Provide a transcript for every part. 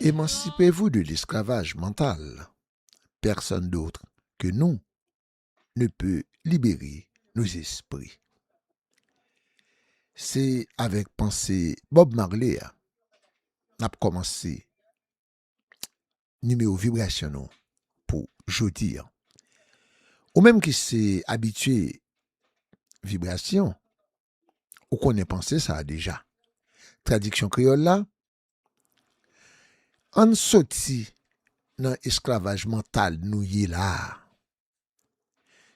Emancipez-vous de l'esclavage mental, personne d'autre que nous ne peut libérer nos esprits. Se avèk panse Bob Marley a n ap kòmanse nimewo vibrasyon nou pou jodi an. Ou menm ki se abitye vibrasyon, Ou konnen panse sa a deja. Tradiksyon kreyòl la, Ann soti nan esklavaj mantal nou ye la a.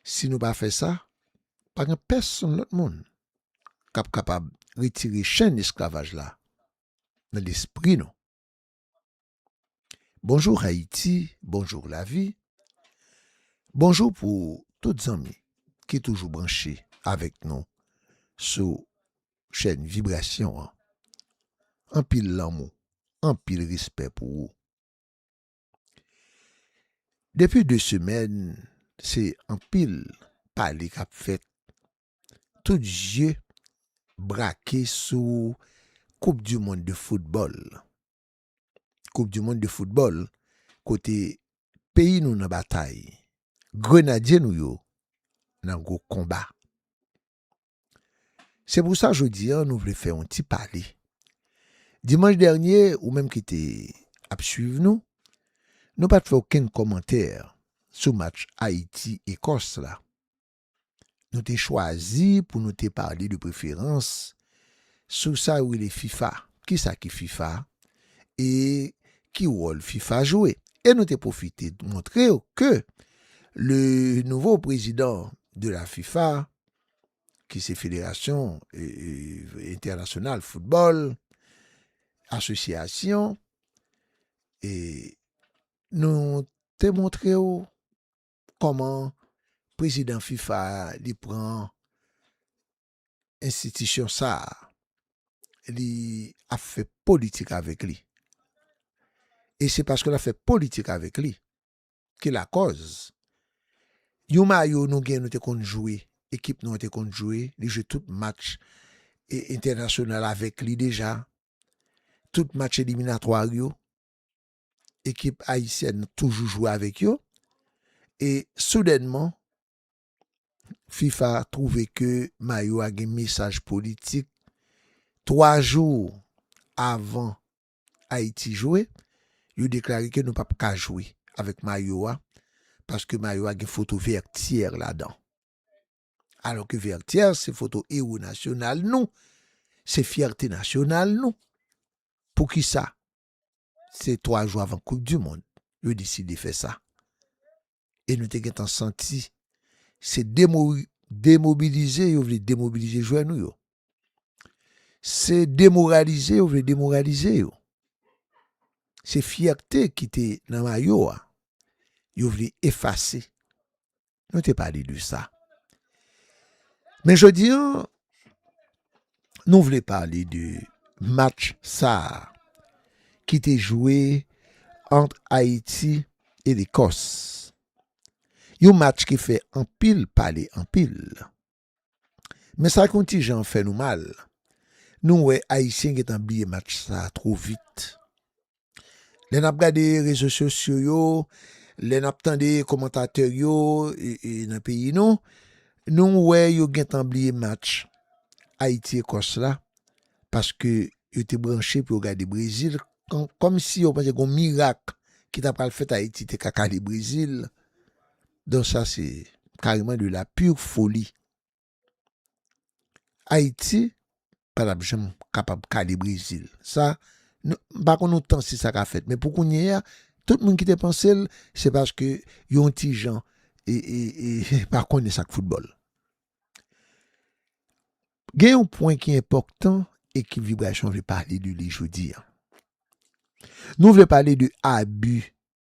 Si nou pa fè sa, pa gen pèsonn lòt moun k ap kapab retire chenn esklavaj la nan lespri nou. Bonjou Hayti, bonjou lavi, bonjou pou tout zanmi ki toujou branche avèk nou sou chèn Vibrasyon an. Anpil lanmou, anpil respè pou ou. Depi 2 semèn se anpil pale kap fèt tout je brake sou koup du mond de foutbòl. Koup du mond de foutbòl kote peyi nou nan batay, grenadye nou yo nan gwo konba. Se pou sa jodi an nou vle fè yon ti pale. Dimanch dènye, ou menm ki te ap swiv nou, nou pat fè okenn kòmantè sou match Ayiti-Ekòs la. nou te chwazi pou nou te pale de preferans sou sa yo rele fifa, ki sa ki fifa e ki wòl fifa jwe. E nou te pwofite montre yo ke le nouvo prezidan de la fifa, ki se Federasyon Entènasyonal Foutbòl, Asosyasyon, e nou te montre yo Kòman prezidan fifa a li pran enstitisyon sa a li ap fè politik avèk li e se paske l ap fè politik avèk li ki lakòz yon mayo nou gen nou te konn jwe ekip nou an te konn jwe li jwe tout match e entènasyonal avèk li deja tout match eliminatwa yo. ekip ayisyèn toujou jwe avèk yo e soudènman fifa twouve ke mayo a gen mesaj politik 3 jou avan ayiti jwe yo deklare ke nou pap ka jwe avèk mayo a paske mayo a gen foto vètyè ladan alò ke vètyè se foto ewo nasyonal nou se fyète nasyonal nou poukisa se 3 jou avan koup di mond yo deside fè sa e nou te gentan santi se demobilize yo vle demobilize jwè nou yo se demoralize yo vle demoralize yo se fyète ki te nan mayo a yo vle efase Nou te pale de sa. Men jodi an, nou vle pale de match sa ki te jwe ant Ayiti e Lekòs. Yon match ki fè anpil pale anpil. Men sa k yon ti jan fè nou mal, nou wè Ayisyen gen tan bliye match sa two vit. Lè n ap gade rezo sosyo yo, lè n ap tande komantatè yo nan peyi nou, nou wè yo gen tan bliye match Ayiti Ekòs la paske yo te branche pou yo gade Brezil kòmsi yo panse gen yon mirak ki ta pral fèt Ayiti te ka kale Brezil Don sa se kareman de la pure folie. Ayiti pa tap janm kapab kale Brezil. Sa nou, m pa konn yon tan si sa ka fèt men pou kounye a tout moun ki te panse l se paske yo yon ti jan pa konnen sa k foutbòl. Gen yon pwen ki enpòtan ekip Vibrasyon vle pale de li jodi a. Nou vle pale de abi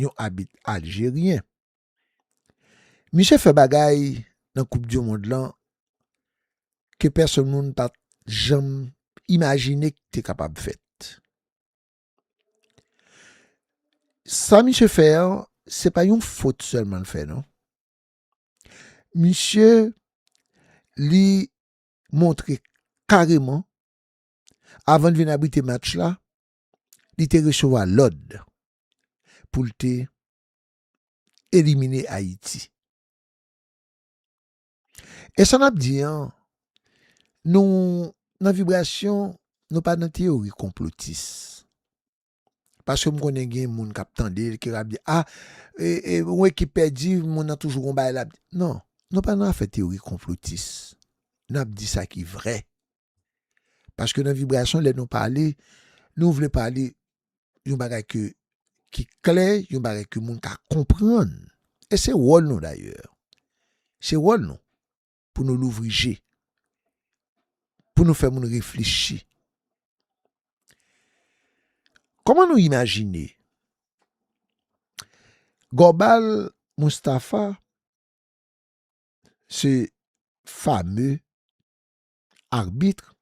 yon abit aljeryen. Misye fè bagay nan koup di mond lan ke pèsonn moun pat janm imajine ki te kapab fèt. Sa misye fè an, se pa yon fot sèlman l fè non. Misye li montre kareman avan l vin abrite match la, li te resevwa lòd pou l te elimine Ayiti. E sa n ap di an, nou nan vibrasyon, nou pa nan teyori konplotis. Paske m konnen gen moun k ap tande l, ki ap di, a, yon ekip pèdi, moun nan toujou gon bagay l ap di. Non, nou pa nan afè teyori konplotis. N ap di sa ki vrè. Paske nan vibrasyon lè nou pale, nou vle pale yon bagay ke ki klè, yon bagay ke moun ka konprann. E se wòl nou dayè. Se wòl nou pou nou louvri je, pou nou fè moun reflechi. Kòman nou imajine? Gòbal Moustapha se fame arbitre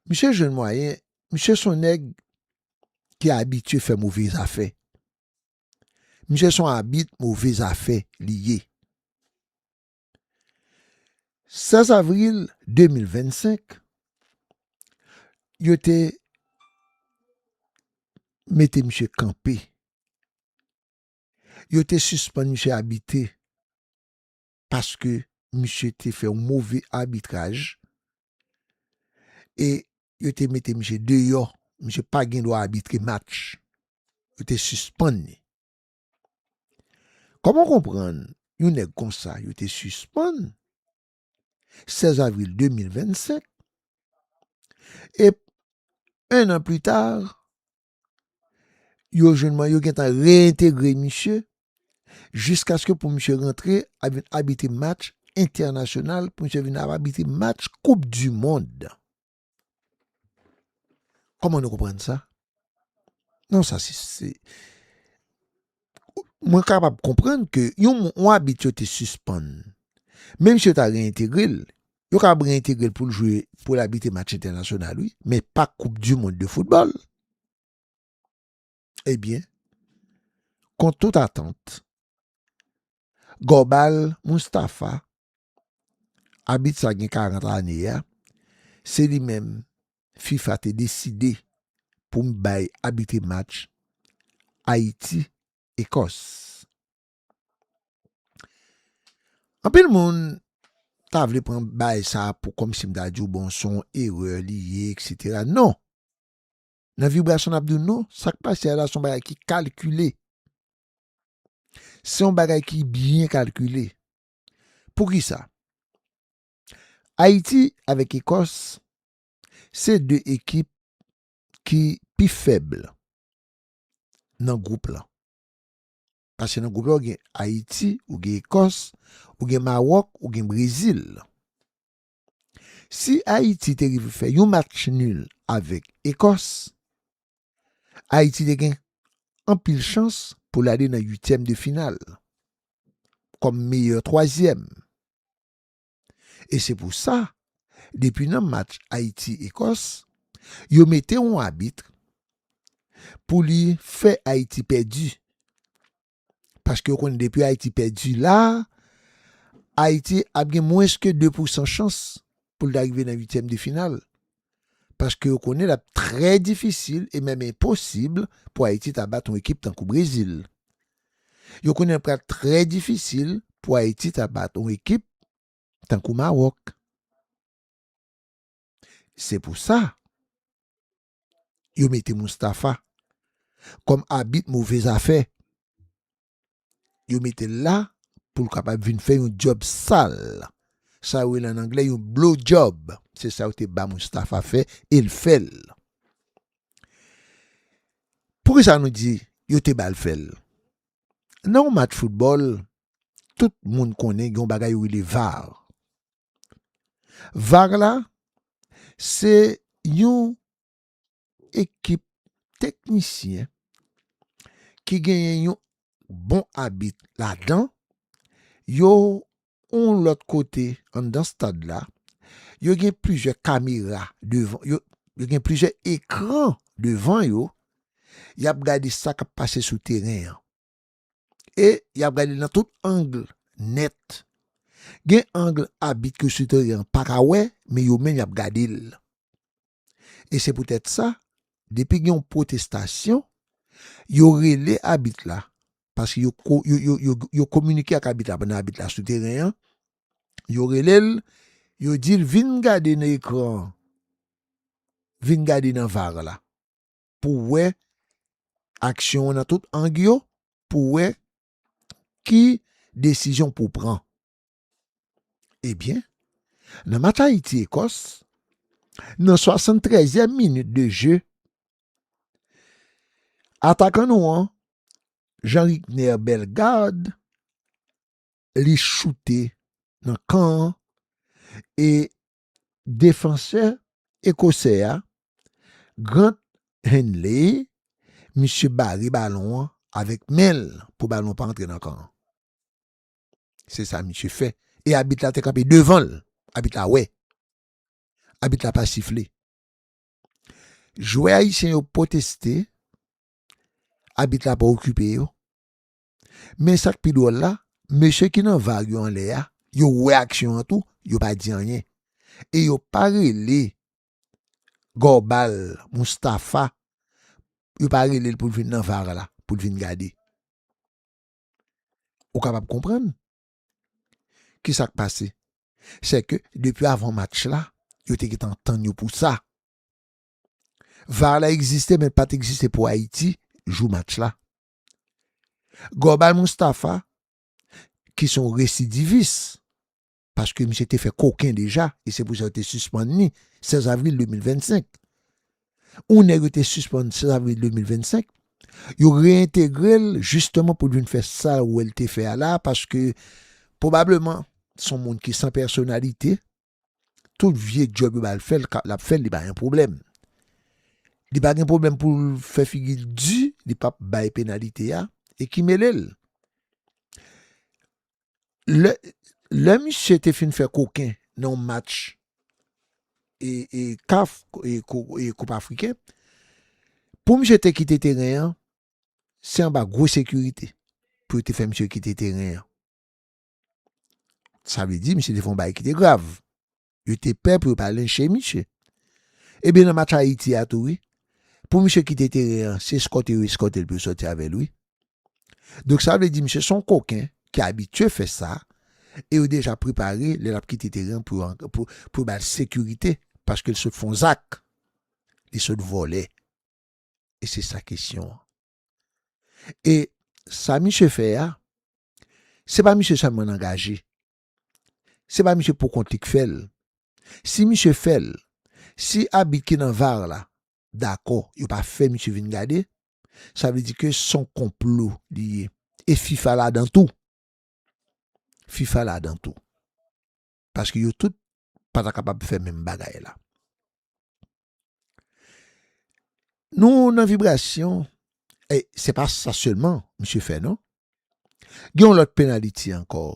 misye jwenn mwayen misye son nèg ki abitye fè move zafè misye son abit move zafè li ye 16 avril 2025 yo te mete misye kanpe yo te sispann misye abite. paske misye te fè yon move abitraj e yo te mete misye deyò, misye pa gen dwa abitre match, yo te sispann li. Kòman w konprann yon nèg konsa yo te sispann 16 avril 2025 e 1 an pli ta yo jwenn mwen, yo gentan reyentegre misye jiskaske pou misye rantre ap vin abitre match entènasyonal, pou misye vin ap abitre match koup di mond. Kòman nou konprann sa? Non sa se mwen kapab konprann ke yon abit yo te sispann, menm si yo ta reyentegre l, yo kapab reyentegre l pou l jwe, pou l abite match entènasyonal wi, men pa koup di mond de foutbòl. Ebyen, kont tout atant, Gòbal Moustafa, abit sa gen 40 ane a, se li menm fifa te deside pou bay abitre match Ayiti, Ekòs. Anpil moun ta vle pran bay sa pou kòm si m ta di w bon son erè li ye eksetera. Non! Nan vibrasyon n ap di w non, sa k pase a la son bagay ki kalkile. Se yon bagay ki byen kalkile. Pou ki sa? Ayiti avèk Ekòs se de ekip ki pi fèb nan gwoup lan. Pase nan gwoup lan ou gen Ayiti, ou gen Ekòs, ou gen Mawòk, ou gen Brezil. Si Ayiti te rive fè yon match nul avèk Ekòs, Ayiti te gen anpil chans pou l ale nan uityèm de final kòm meyè twazyèm. E se pou sa, depi nan match Ayiti-Ekòs, yo mete yon abit pou li fè Ayiti pèdi. Paske yo konn depi Ayiti pèdi la, Ayiti ap gen mwens ke 2 pou 100 chans pou l ta rive nan 8 tièm de final. Paske yo konnen l ap trè difisil e menm enposib pou Ayiti ta bat yon ekip tankou Brezil. Yo konnen l pral trè difisil pou Ayiti ta bat yon ekip tankou Mawòk. Se pou sa. yo mete Moustapha kòm abit move zafè, yo mete l la pou l kapab vin fè yon djòb sal, sa yo rele an anglè yon blow job, se sa yo te ba Moustapha fè e l fè l. Poukisa nou di yo te ba l fè l? Nan yon match foutbòl, tout moun konnen gen yon bagay yo rele var. Var la se yon ekip teknisyen ki genyen yon bon abit ladan yo yon lòt kote anndan stad la yo gen plizyè kamera devan yo yo gen plizyè ekran devan yo y ap gade sa k ap pase sou teren an. e y ap gade l nan tout ang nèt. Gen ang abit ke sitwayen an pa ka wè, men yo menm y ap gade l. E se poutèt sa, depi gen yon pwotestasyon, yo rele abit la, paske yo kominike ak abit la pandan abit la sou teren an, yo rele l, yo di l vin gade nan ekran an, vin gade nan var la. pou wè aksyon an nan tout ang yo, pou wè ki desizyon pou pran. Ebyen, nan match Ayiti-Ekòs, nan 73 yèm minit de je, atakan nou an, Jean Ricner Bellegarde, li choute nan kan an, e Defansè ekosè a, Grant Hanley, misye bare balon an avèk men l pou balon an pa antre nan kan an. Se sa misye fè. E abit la te kanpe devan l. Abit la wè. Abit la pa sifle. Jwè ayisyen yo pwoteste. Abit la pa okipe yo. Men sak pi dwòl la, mesye ki nan var yo anlè a, yo wè aksyon an tou, yo pa di anyen. E yo pa rele Gorbal Mustafa, yo pa rele l pou l vin nan var la, pou l vin gade. Ou kapab konprann ki sak pase. Se ke depi avan match la, yo te gentan tann yo pou sa. Var la egziste men l pa t egziste pou Ayiti jou match la. Gorbay Moustapha ki son residivis, paske misye te fè koken deja, e se pou sa yo te sispann ni 16 avril 2025. Ou nèg yo te sispann 16 avril 2025, yo reintegre l jisteman pou l vin fè sa ou wè l te fè a la, paske, pwobableman, son moun ki san pèsonalite, Tout vye djòb yo ba l fè l ka l ap fè l li pa gen pwoblèm. Li pa gen pwoblèm pou l fè figi l di li p ap bay penalite a e ki mele l. Lè lè misye te fin fè koken nan yon match e e CAF e ko e koup afriken pou misye te kite teren an se anba gwo sekirite pou yo te fè misye kite teren an. Sa vle di misye te fon bay ki te grav. Yo te pè pou yo pa lenche misye. Ebyen nan match Ayiti a tou wi. Pou misye kite teren an, se eskòte yo eskòte l pou yo sòti avè l wi. Donk sa vle di misye son koken ki abitye fè sa e yo deja prepare lè l ap kite teren an pou yo ba l sekirite paske l sot fon zak, li sot vòlè. E se sa kesyon an. E sa misye fè a, se pa misye sèlman angaje. Se pa misye pou kont li k fè l. Si misye fè l, si abit ki nan var la dakò yo pa fè misye vin gade, sa vle di ke s on konplo li ye. E fifa ladan tou. Fifa ladan tou. paske yo tout pa ta kapab fè menm bagay la. Nou nan vibrasyon, e se pa sa selman misye fè non. Gen yon lòt penaliti ankò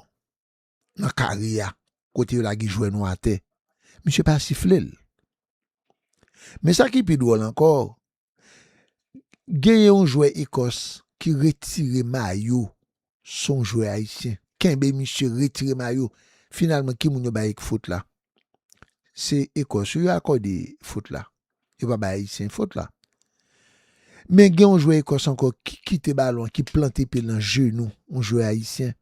nan kare a kote yo lage jwè nou atè, misye pa sifle l. Men sa ki pi dwòl ankò, Genyen yon jwè Ekòs ki retire mayo son jwè ayisyen kenbe misye retire mayo finalman ki moun yo bay fot la se Ekòs yo yo akòde fot la yo pa bay ayisyen fot la men gen yon jwè Ekòs ankò ki kite balon ki plante pye l nan jenou yon jwè ayisyen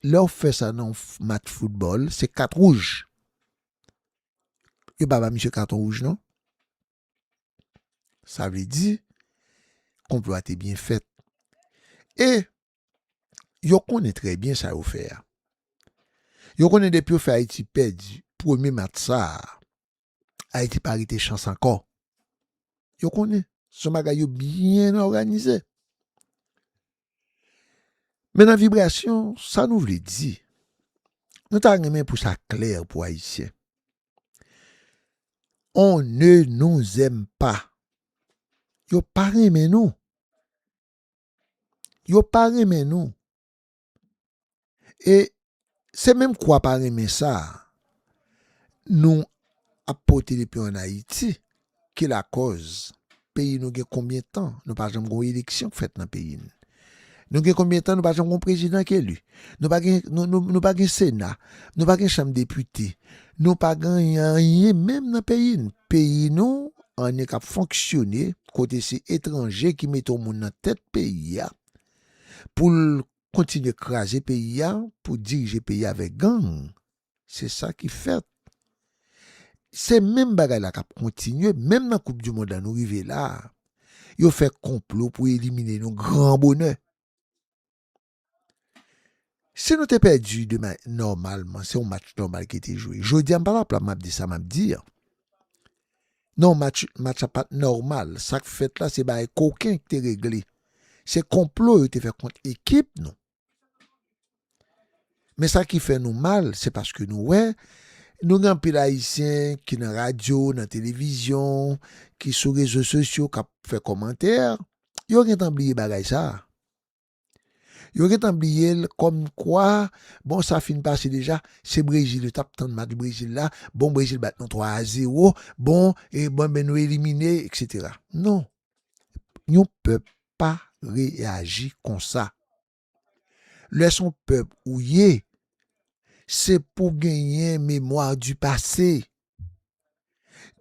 lè w fè sa nan yon match foutbòl se kat wouj. yo pa ba misye katon wouj non. Sa vle di, konplo a te byen fèt. E, yo konnen trè byen sa yo fè a. Yo konnen depi yo fè Ayiti pèdi premye match sa a, Ayiti pa rete chans ankò. Yo konnen, son bagay yo byen òganize. Men nan vibrasyon, sa nou vle di, nou ta renmen pou sa klè pou Ayisyen. On ne nous aime pas. Yo pa renmen nou. Yo pa renmen nou. E se menm kwa pa renmen sa a nou ap pote depi an Ayiti ki lakòz peyi nou gen konbyen tan nou pa janm gen yon eleksyon k fèt nan peyi n. Nou gen konbyen tan nou pa janm gen yon prezidan k eli. Nou pa gen, nou pa gen sena, nou pa gen chanm depite, nou pa gen anyen menm nan peyi n. Peyi nou an e k ap fonksyone kote se etranje ki mete yon moun nan tèt peyi a pou l kontinye kraze peyi a pou dirije peyi a vè gang se sa ki fèt se menm bagay la kap kontinye menm nan koup di mond la nou rive la yo fè konplo pou elimine nou gran bonè si nou te pèdi demen nòmalman se yon match nòmal ki te jwe jodi a m pa la plan map di sa map di an. Non match match la pat nòmal, sak fèt la se bagay koken ki te regle. Se konplo yo te fè kont ekip nou. Men sa ki fè nou mal, se paske nou wè, nou gen anpil ayisyen ki nan radyo, nan televizyon, ki sou rezo sosyo kap fè kòmantè, yo gentan bliye bagay sa. Yo gentan bliye l kòmkwa bon sa fin pase deja, se Brezil yo t ap tann match Brezil la, bon Brezil bat nou 3 a 0, bon e bon nou elimine eksetera. Non, yon pèp pa reyaji konsa. Lè s on pèp ou ye, se pou w genyen memwa di pase.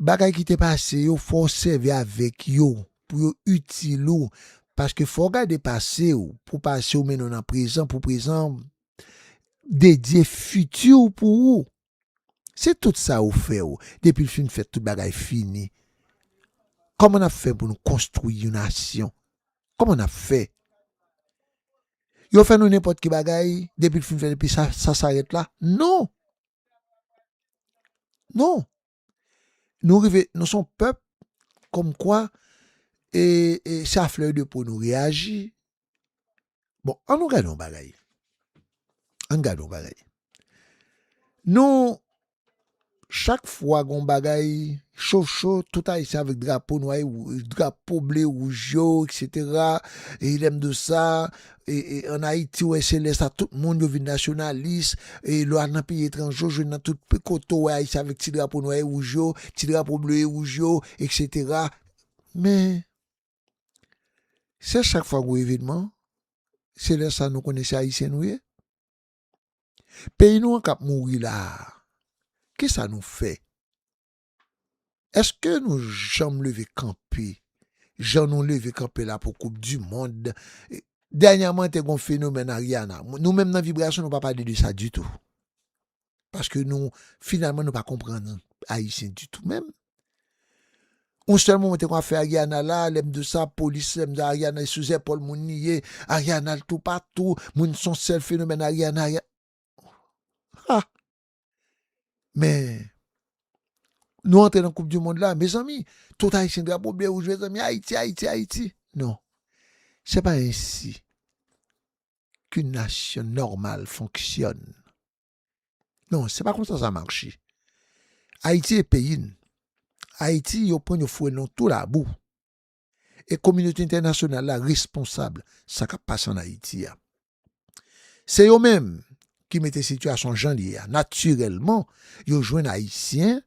Bagay ki te pase yo fò w sèvi avèk yo pou yo itil ou paske fò w gade pase w pou pase w mennen w nan prezan pou prezan w dedye fiti w pou ou. Se tout sa yo fè w depi l fin fèt tout bagay fini. Kòman n ap fè pou nou konstwi yon nasyon? Kòman n ap fè? Yo fè nou nenpòt ki bagay depi l fin fèt epi sa sa rèt la? Non! Non, nou rive, nou son pèp kòm kwa e se a flè de po nou reyaji. Bon, an nou gade yon bagay, an gade yon bagay. Nou, chak fwa gon bagay cho cho, tout ayisyen avèk drapo nwa e drapo ble wouj yo, eksetera, e lèm di w sa, an Ayiti ou wè se lè sa tout moun yo vin nasyonalis, e lò al nan peyi etranje ou jwenn nan tout kote ou wè Ayisyen avèk ti drapo nwa e wouj yo, ti drapo ble e wouj yo, eksetera. Men, se chak fwa gwo evenman, se lè sa nou konnen se Ayisyen nou ye. Peyi nou an k ap mouri la a, kisa nou fè? Eske nou janm leve kanpe jan nou leve kanpe la pou koup di mond? Dènyaman te gon fenomèn Ariana. Nou menm nan vibrasyon nou pa pale de sa ditou. Paske nou finalman nou pa konprann ayisyen ditou menm. On sèl moman te kon ap fè Ariana la, lè m di w sa, polis lè m di Ariana e sou zèpòl moun li ye, Ariana al toupatou, moun son sèl fenomèn Ariana, Ariana. Ha! Men, nou antre nan koup di mond la, mezanmi, tout ayisyen drapo ble wouj, mezanmi, ayiti, ayiti, ayiti. Non, se pa ensi ki nasyon nòmal fonksyòn. Non, se pa konsa sa marche. Ayiti e peyi n. Ayiti yo pran yo foure nan tou labou. e kominote entènasyonal la responsab sa k ap pase ann Ayiti a. Se yo menm ki mete sitiyasyon jan l ye a. Natirèlman, yo jwenn Ayisyen,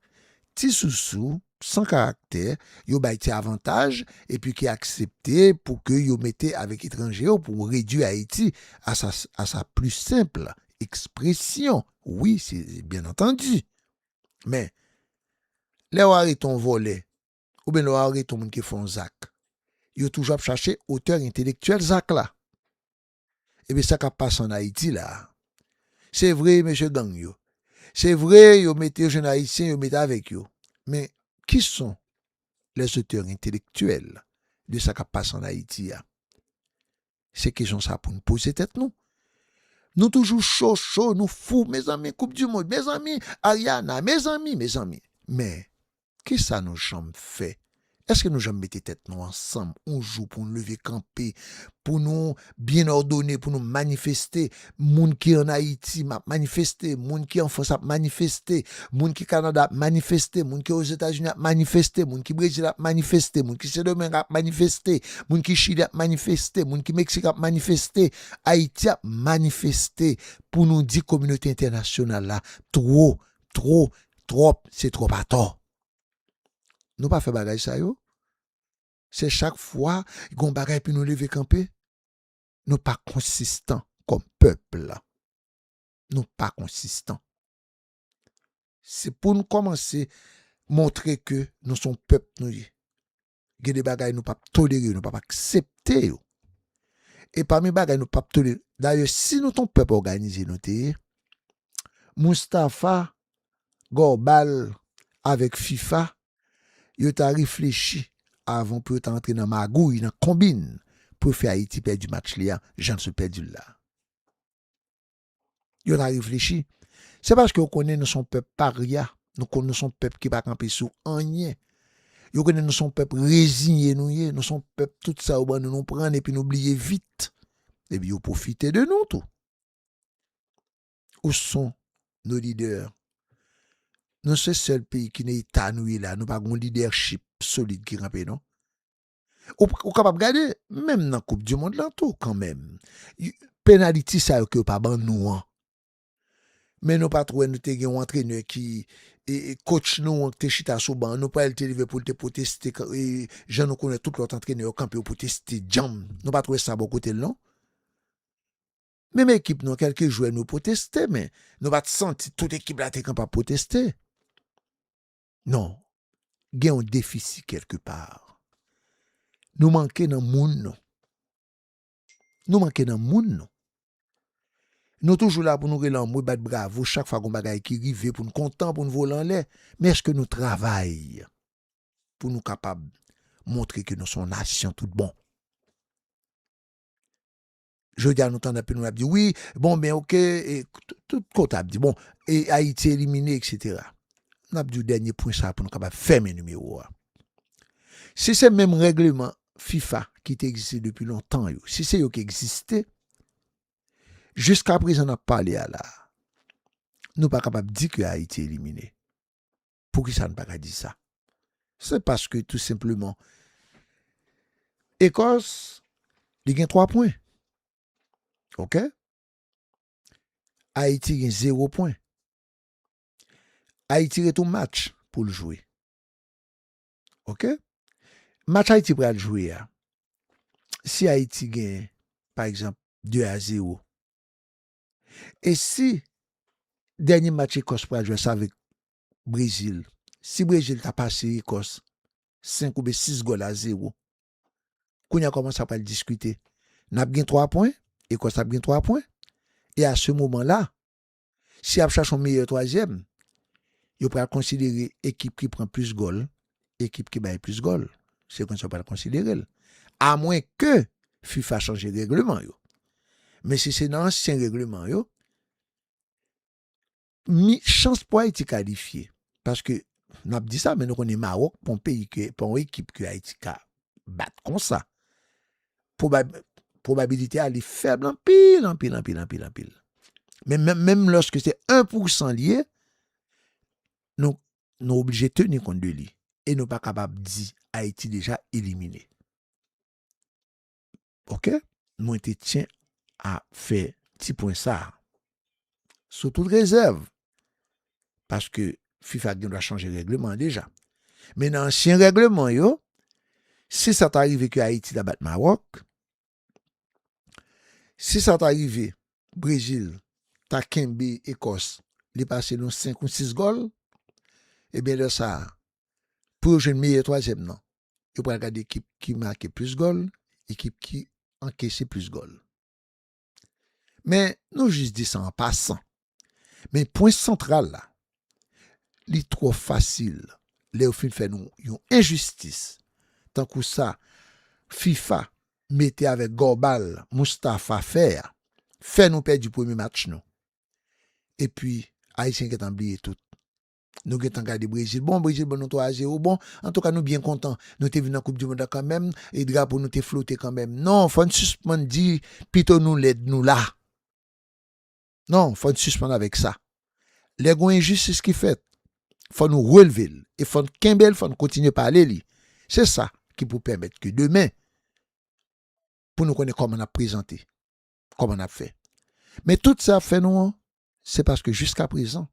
ti sousou, san karaktè, yo bay ti avantaj epi ki aksepte pou ke yo mete avèk etranje yo pou redui Ayiti a sa a sa pli senp ekspresyon. Wi, se byenantandi. Men, lè w arete yon vòlè oubyen lè w arete yon moun ki fè yon zak, yo toujou ap chache otè entelektyèl zak la. Ebyen sa k ap pase ann Ayiti la a. Se vre mesye gang yo, se vre yo mete yo jwenn Ayisyen yo mete avèk yo, men ki son lèzotè entelektyèl de sa k ap pase ann Ayiti a? Se kesyon sa pou n poze tèt nou. Nou toujou cho cho, nou fou, mezanmi koup di mond, mezanmi Ariana, mezanmi, mezanmi. Men, kisa nou janm fè? Eske nou janm mete tèt nou ansanm yon jou pou nou leve kanpe, pou nou byen òdone, pou nou manifeste, Moun ki an Ayiti map manifeste, moun ki an Frans ap manifeste, moun ki Kanada ap manifeste, moun ki Ozetazini ap manifeste, moun ki Brezil ap manifeste, moun ki Sendomeng ap manifeste, moun ki Chili ap manifeste, moun ki Meksik ap manifeste, Ayiti ap manifeste pou nou di kominote entènasyonal la two, two, twòp, se twòp atò. Nou pa fè bagay sa yo? Se chak fwa gon bagay epi nou leve kanpe? Nou pa konsistan kòm pèpl. Nou pa konsistan. Se pou nou kòmanse montre ke nou son pèp nou ye. Gen de bagay nou pap tolere yo, nou pap aksepte yo. E pami bagay nou pap tolere, dayè si nou ton pèp òganize nou te ye, Mustapha, Gorbal avèk FIFA yo ta reflechi avan pou yo ta antre nan magouy, nan konbin pou yo fè Ayiti pèdi match li a jan l sot pèdi l la. Yo ta reflechi. Se paske yo konnen nou son pèp parya, nou konnen nou son pèp ki pa kanpe sou anyen. Yo konnen nou son pèp reziye nou ye, nou son pèp tout sa yo ban nou nou pran epi nou bliye vit. Epi yo pwofite de nou tou. ou son nos leaders nou se sèl peyi ki nan eta nou ye la nou pa gon leadership solid ki kanpe non ou kapab gade menm nan koup di mond lan tou kanmenm penaliti sa yo ke yo pa ban nou an men nou pat wè nou te gen yon antrenè ki coach nou an ki te chita sou ban nou pral te leve poul te pwoteste jan nou konnen tout lòt antrenè yo kanpe yo pwoteste djanm nou pat wè sa bò kotel non. Menm ekip nou kelke jwè nou pwoteste men nou pat santi tout ekip la te kapab pwoteste non gen yon defisi kelke pa nou manke nan moun nou nou manke nan moun nou nou toujou la pou nou rele anmwe bat bravo chak fwa gon bagay ki rive pou nou kontan pou nou vole anlè men eske nou travay pou nou kapab montre ke nou son nasyon tout bon. Jodi a nou tande anpil moun ap di wi, bon ben ok, e tout kote ap di bon, e Ayiti elimine eksetera. N ap di w dènye pwen sa pou nou kapab fèmen nimewo a. Si se menm règleman fifa ki te egziste depi lontan yo, si se yo ki egziste, jiska prezan n ap pale a la, nou pa kapab di ke Ayiti elimine. Poukisa n pa ka di sa? Se paske tou senpleman Ecos li gen 3 pwen. Ok? Ayiti gen 0 pwen. Ayiti ret yon match pou l jwe. Ok? Match Ayiti pral jwe a, si Ayiti gen pa egzanp 2 a 0, E si dènye match Ekòs pral jwe sa avèk Brezil, si Brezil ta pase Ekòs 5 oubyen 6 gòl a 0, kounye a kòman sa pral diskite? N ap gen 3 pwen, Ekòs ap gen 3 pwen, e a se moman la, si y ap chache yon meyè twazyèm, yo pral konsidere ekip ki pran plis gòl ekip ki bay plis gòl, se konsa yo pral konsidere l. Amwen ke fifa chanje regleman yo. Men si se nan ansyen regleman yo, mi chans pou Ayiti kalifye, paske n ap di sa men nou konnen Mawòk pa yon peyi ke, pa yon ekip ke Ayiti ka bat konsa. Pwobab, pwobabilite a li fèb anpil, anpil, anpil, anpil, anpil. Men menm, menm lòske se 1 pousan li ye, nou nou oblije teni kont de li e nou pa kapab di Ayiti deja elimine. Ok, mwen te tyen a fè ti pwen sa a. Sou tout rezèv, paske fifa gen dwa chanje règleman deja. Men nan ansyen règleman yo, si sa ta rive ke Ayiti ta bat Mawòk, Si sa ta rive Brezil ta kenbe Ekòs li pase nou 5 ou 6 gòl ebyen lè sa pou yo jwenn meyè twazyèm nan yo pral gade ekip ki make plis gòl ekip ki ankese plis gòl men nou jis di sa an pasan Men pwen santral la, li twò fasil lè yo fin fè nou yon enjistis tankou sa fifa mete avèk gòbal Moustapha fè a, fè nou pèdi premye match nou. Epi ayisyen gentan bliye tout. Nou gentan gade Brezil, bon Brezil ban nou 3 a 0, bon antouka nou byen kontan nou te vin nan koup di mond la kanmenm e drapo nou te flote kanmenm. Non fò n sispann di pito nou lèd nou la. Non, fò n sispann avèk sa. Lè gon enjistis ki fèt, fò nou relve l e fò n kenbe l, fò n kontinye pale li. Se sa ki pou pèmèt ke demen, pou nou konnen kòman n ap prezante, kòman n ap fè. Men tout sa y ap fè nou an, se paske jiskaprezan,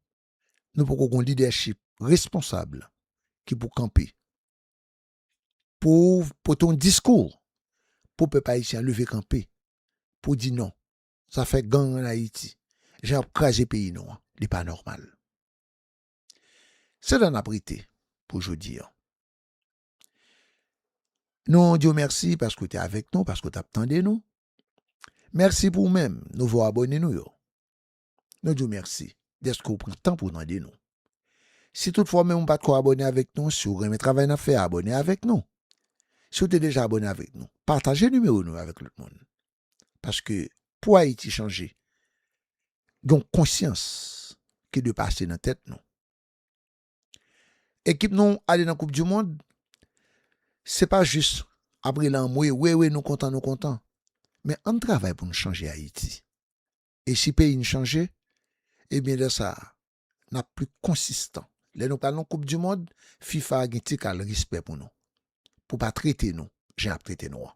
nou poko gon lidèchip responsab ki pou kanpe, pou pote yon diskou pou pèp ayisyen an leve kanpe pou di non sa fè gang an Ayiti, jan y ap kraze peyi nou an, li pa nòmal. Se la n ap rete pou jodi an. Nou di w mèsi paske w te avèk nou, paske w t ap tande nou. Mèsi pou ou menm, nouvo abòne nou yo. Nou di w mèsi dèske w pran tan pou w tande nou. Si tout fwa w menm ou pa t ko abòne avèk nou, si w renmen travay n ap fè a, abòne avèk nou. Si w te deja abòne avèk nou, pataje nimewo nou yo avèk lòt moun. paske pou Ayiti chanje, gen yon konsyans ki dwe pase nan tèt nou. Ekip nou ale nan koup dimond, se pa jis ap rele anmwe, we we nou kontan nou kontan, men ann travay pou nou chanje Ayiti. E si peyi n chanje, ebyen lè sa a, n ap pli konsistan. Lè nou pral nan koup dimond, fifa gen ti kal respè pou nou, pou pa trete nou jan y ap trete nou an.